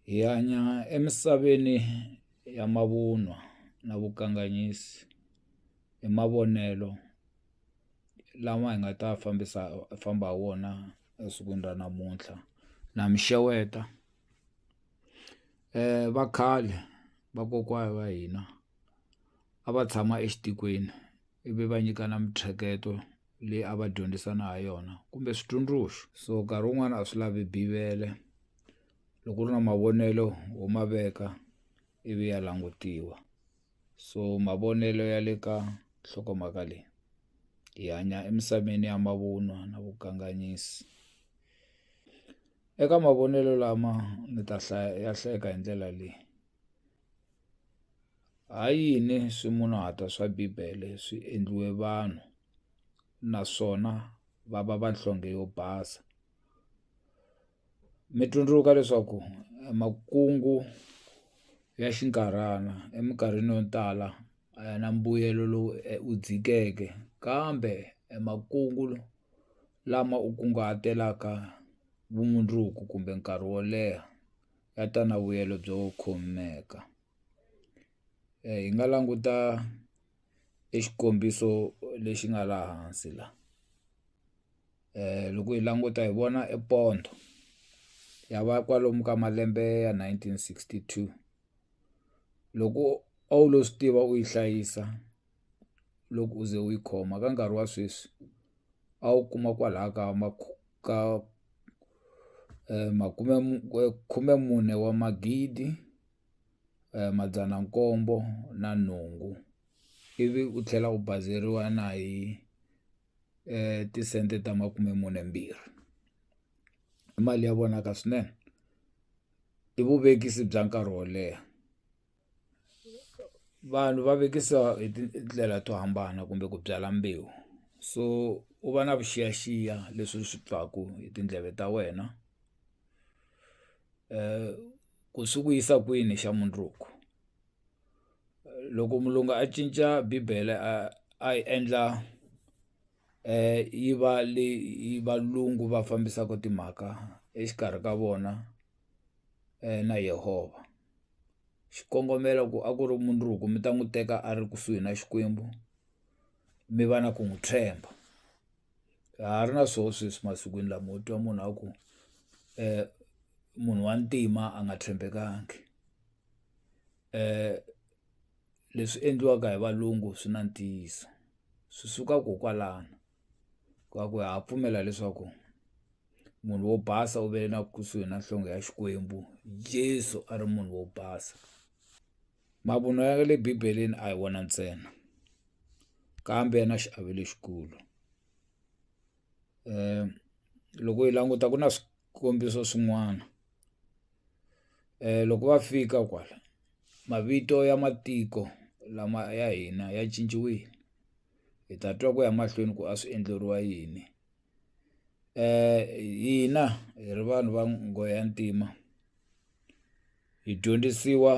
Hi hanya emisaveni ya mavunwa na vukanganyisi hi mavonelo lawa hi nga ta fambisa famba hi wona esikwini ra namuntlha na mi xeweta va khale vakokwana va hina a va tshama exitikweni. ivi va nyikana mintsheketo leyi a va dyondzisana ha yona kumbe switsundzuxo so nkarhi wun'wana a swi lavi bivele loko u ri na mavonelo ho ma veka ivi ya langutiwa so mavonelo ya le ka nhlokomhaka leyi hi hanya emisaveni ya mavunwa na vukanganyisi eka mavonelo lama ni ta hlaya ya hlayeka hi ndlela leyi. Ha yini swimunhuhatwa swa Bibele swi endliwe vanhu naswona va va vanhlonge yo basa? Mi tsundzuka leswaku emakungu ya xinkarhana eminkarhini yo tala a ya na mbuyelo lowu wu dzikeke, kambe emakungu lama u kunguhatelaka vumundzuku kumbe nkarhi wo leha. ya ta na vuyelo byo khomeka hi nga languta e xikombiso lexi nga laha hansi la loko hi languta hi vona e pondo ya va kwalomu ka malembe ya nineteen sixty two loko a wu lo swi tiva u yi hlayisa. loko u ze u yi khoma ka nkarhi wa sweswi a wu kuma kwalaya ka ka makume khumemune wa magidi madzana nkombo na nhungu ivi u tlhela u bazeriwa na hi tisente ta makume mune mbirhi i mali ya vonaka swinene i vuvekisi bya nkarhi wo leha. vanhu va vekisa hi tindlela to hambana kumbe ku byala mbewu so u va na vuxiyaxiya leswi swi twaka hi tindleve ta wena ku swi ku yisa kwini xa mundzuku loko mulungu a cinca bibele a a yi endla yi va leyi valungu va fambisaka timhaka exikarhi ka vona na Yehovha. xikongomelo ku a ku ri mundzuku mi ta n'wi teka a ri kusuhi na Xikwembu mi va na ku n'wi tshemba a ha ri na swoho sweswi masikwini lama u twa munhu a ku munhu wa ntima a nga tshembekangi leswi endliwaka hi valungu swi na ntiyiso swi suka ko kwalano. ka ku ha pfumela leswaku munhu wo basa u ve na kusuhi na nhlonge ya Xikwembu Jesu a ri munhu wo basa mavunwa ya le bibeleni a hi wona ntsena kambe ya na xiave lexikulu loko hi languta ku na swikombiso swin'wana loko va fika kwala mavito ya matiko lama ya hina ya cinciwile. hi ta twa ku ya mahlweni ku a swi endleriwa yini hina hi ri vanhu va nghohe ya ntima hi dyondzisiwa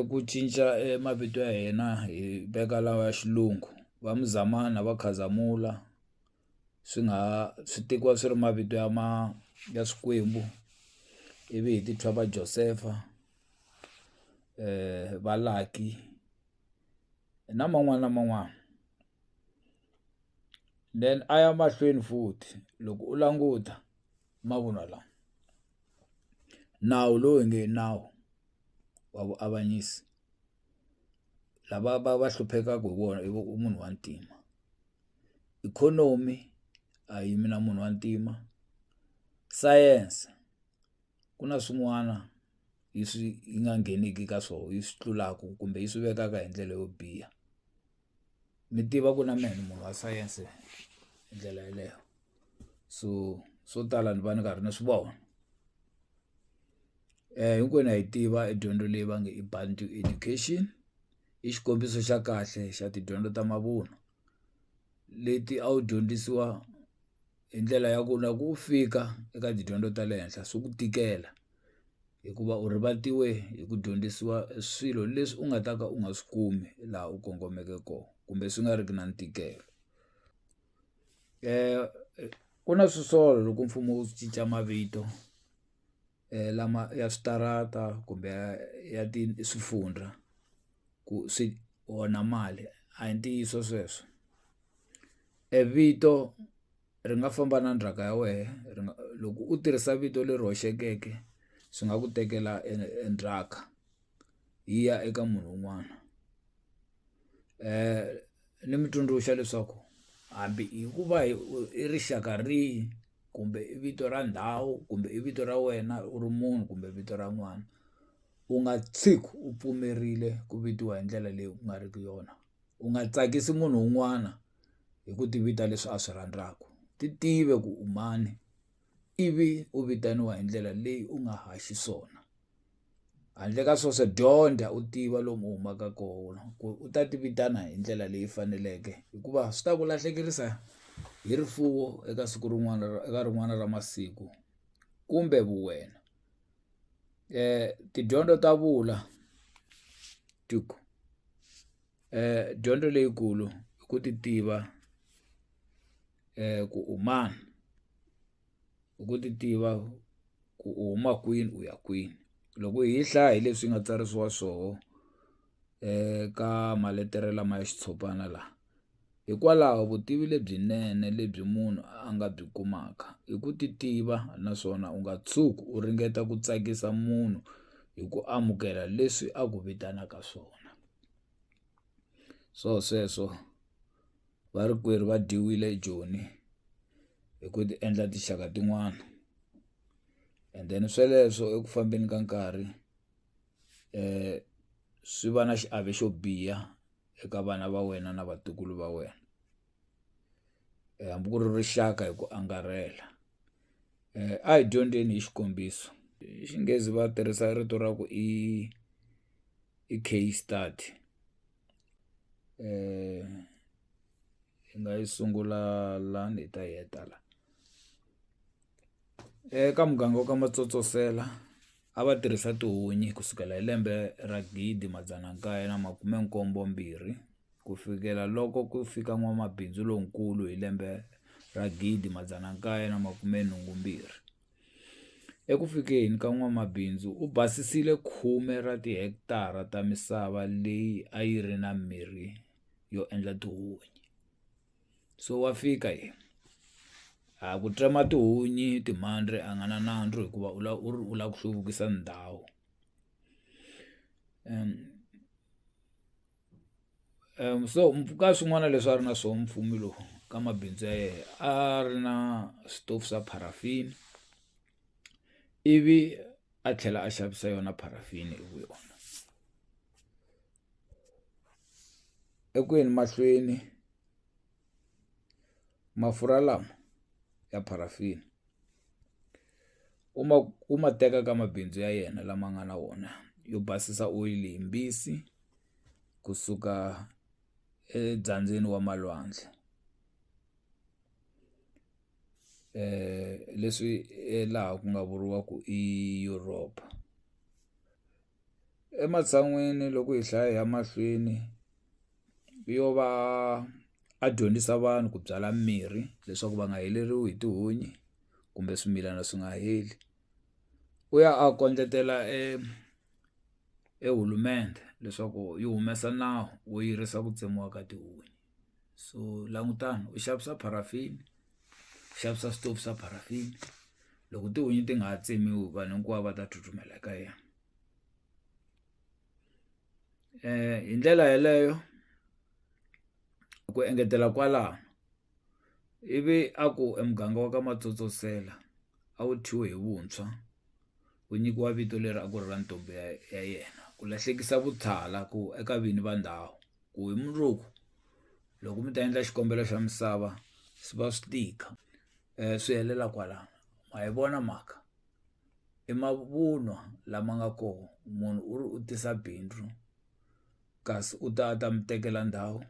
ku cinca e mavito ya hina hi veka lawa ya xilungu va Muzamani va Khazamula swi nga ha swi tekiwa swi ri mavito ya ma ya swikwembu ivi hi ti thya va Josefa va Lucky. na man'wani na man'wani then a ya mahlweni futhi loko u languta mavunwa lawa nawu lowu nge nawu wa vuavanyisi lava va va hluphekaku hi wona i munhu wa ntima ikhonomi a yimi na munhu wa ntima science. ku na swin'wana yi swi yi nga ngheneki ka swona yi swi tlulaka kumbe yi swi vekaka hi ndlela yo biha mi tiva ku na mehe ni munhu wa sayense hi ndlela yeleyo so swo tala ni va ni karhi ni swi vona hinkwenu ha yi tiva i dyondzo leyi va nge i Bantu education i xikombiso xa kahle xa tidyondzo ta mavunwa. leti a wu dyondzisiwa hi ndlela ya ku na ku fika eka tidyondzo ta le henhla swi ku tikela hikuva u rivatiwe hi ku dyondzisiwa swilo leswi u nga ta ka u nga swi kumi laha u kongomeke kona kumbe swi nga ri ki na ntikelo ku na swisolo loko mfumo wu cinca mavito. lama ya switarata kumbe ya ya swifundzha ku swi onha mali a hi ntiyiso sweswo e vito ri nga famba na ndzhaka ya wehe ri nga loko u tirhisa vito leri hoxekeke swi nga ku tekela e e ndzhaka yi ya eka munhu wun'wana ni mi tsundzuxa leswaku hambi hi ku va hi i rixaka rihi. kumbe i vito ra ndhawu kumbe i vito ra wena u ri munhu kumbe vito ra n'wana u nga tshiki u pfumerile ku vitiwa hi ndlela leyi ku nga riki yona u nga tsakisi munhu un'wana hi ku ti vita leswi a swi rhandzaka ti tive ku u mani ivi u vitaniwa hi ndlela leyi u nga ha xiswona. handle ka sweswo dyondza u tiva lomu u humaka kona ku u ta ti vitana hi ndlela leyi faneleke hikuva swi ta ku lahlekerisa hi rifuwo eka siku rin'wana eka rin'wana ra masiku kumbe vu wena tidyondzo ta vula tiku dyondzo leyikulu i ku ti tiva ku u mani. hi ku ti tiva ku u huma kwini u ya kwini loko hi yi hlaya hi leswi yi nga tsarisiwa swoho ka maletere lama ya xitshopana la hikwalaho vutivi lebyinene lebyi munhu a nga byi kumaka hi ku ti tiva naswona u nga tshuki u ringeta ku tsakisa munhu hi ku amukela leswi a ku vitanaka swona swo sweswo. Varikwerhu va dyiwile hi joni hi ku ti endla tinxaka tin'wana and then sweleswo eku fambeni ka nkarhi swi va na xiave xo biha eka vana va wena na vatukulu va wena hambi ku ri rixaka hi ku angarhela a hi dyondzeni hi xikombiso hi Xinghezi va tirhisa rito ra ku i i case study. hi nga yi sungula lani hi ta yi heta la. Eka muganga wa ka Matsotsosela a va tirhisa tihunyi ku sukela hi lembe ra gidi madzana nkaye na makume nkombo mbirhi ku fikela loko ku fika n'wamabindzu lonkulu hi lembe ra gidi madzana nkaye na makume nhungu mbirhi. Eku fikeni ka n'wamabindzu u basisile khume ra tihekitara ta misava leyi a yi ri na mirhi yo endla tihunyi. So wa fika yena, a ku tsema tihunyi timhandzi a nga na nandzu hikuva u lava u ri u lava ku hluvukisa ndhawu . so ka swin'wana leswi a ri na swona mufumi lowu ka mabindzu ya yena a ri na switofu swa paraffin ivi a tlhela a xavisa yona paraffin hi vu yona eku yeni mahlweni. Mafurha lama ya paraffin u ma u ma teka ka mabindzu ya yena lama nga na wona yo basisa oyili hi mbisi kusuka edyambyini wa malwandle leswi laha ku nga vuriwaku i Europe. Ematshan'wini loko hi hlaya hi ya mahlweni, yo va a dyondzisa vanhu ku byala mimirhi leswaku va nga heleriwe hi tihunyi kumbe swimilana swi nga heli. U ya a kondletela e leswaku yi humesa nawu wo yirisa ku tsemiwa ka tihunyi. so langutani u xavisa paraffin u xavisa switofu swa paraffin loko tihunyi ti nga ha tsemiwi vanhu hinkwavo va ta tsutsumela ka yena um hi ndlela yeleyo ku engetela kwalano ivi a ku e muganga wa ka matsotsosela a wu thyiwe hi vuntshwa ku nyikiwa vito leri a ku ri ra ntombi ya ya yena ku lahlekisa vuthala ku eka vini va ndhawu. ku hi mundzuku loko mi ta endla xikombelo xa misava swi va swi tika um swi helela kwalano ma yi vona mhaka i mavunwa lama nga koho munhu u ri u tisa bindzu kasi u ta a ta mi tekela ndhawu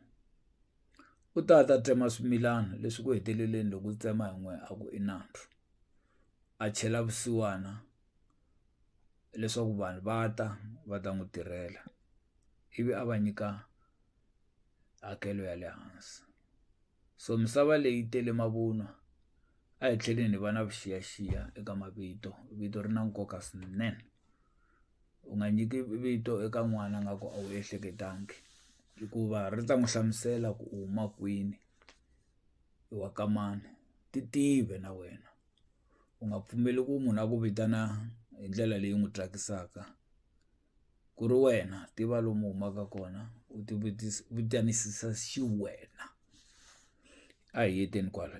u ta ta tsema swimilana leswi ku heteleleni loko u tsema hi n'wehe a ku i nandzu a chela vusiwana leswaku vanhu va ta va ta n'wi tirhela. ivi a va nyika hakelo ya le hansi so misava leyi tele mavunwa a hi tlheleni hi va na vuxiyaxiya eka mavito vito ri na nkoka swinene u nga nyiki vito eka n'wana a nga ku a wu ehleketangi hikuva ri ta n'wi hlamusela ku u huma kwini i wa ka mani ti tive na wena u nga pfumeli ku munhu a ku vitana hi ndlela leyi n'wi tsakisaka. ku ri wena tiva lomu u humaka kona u ti vutanisisa xiwena a hi heteni kwala.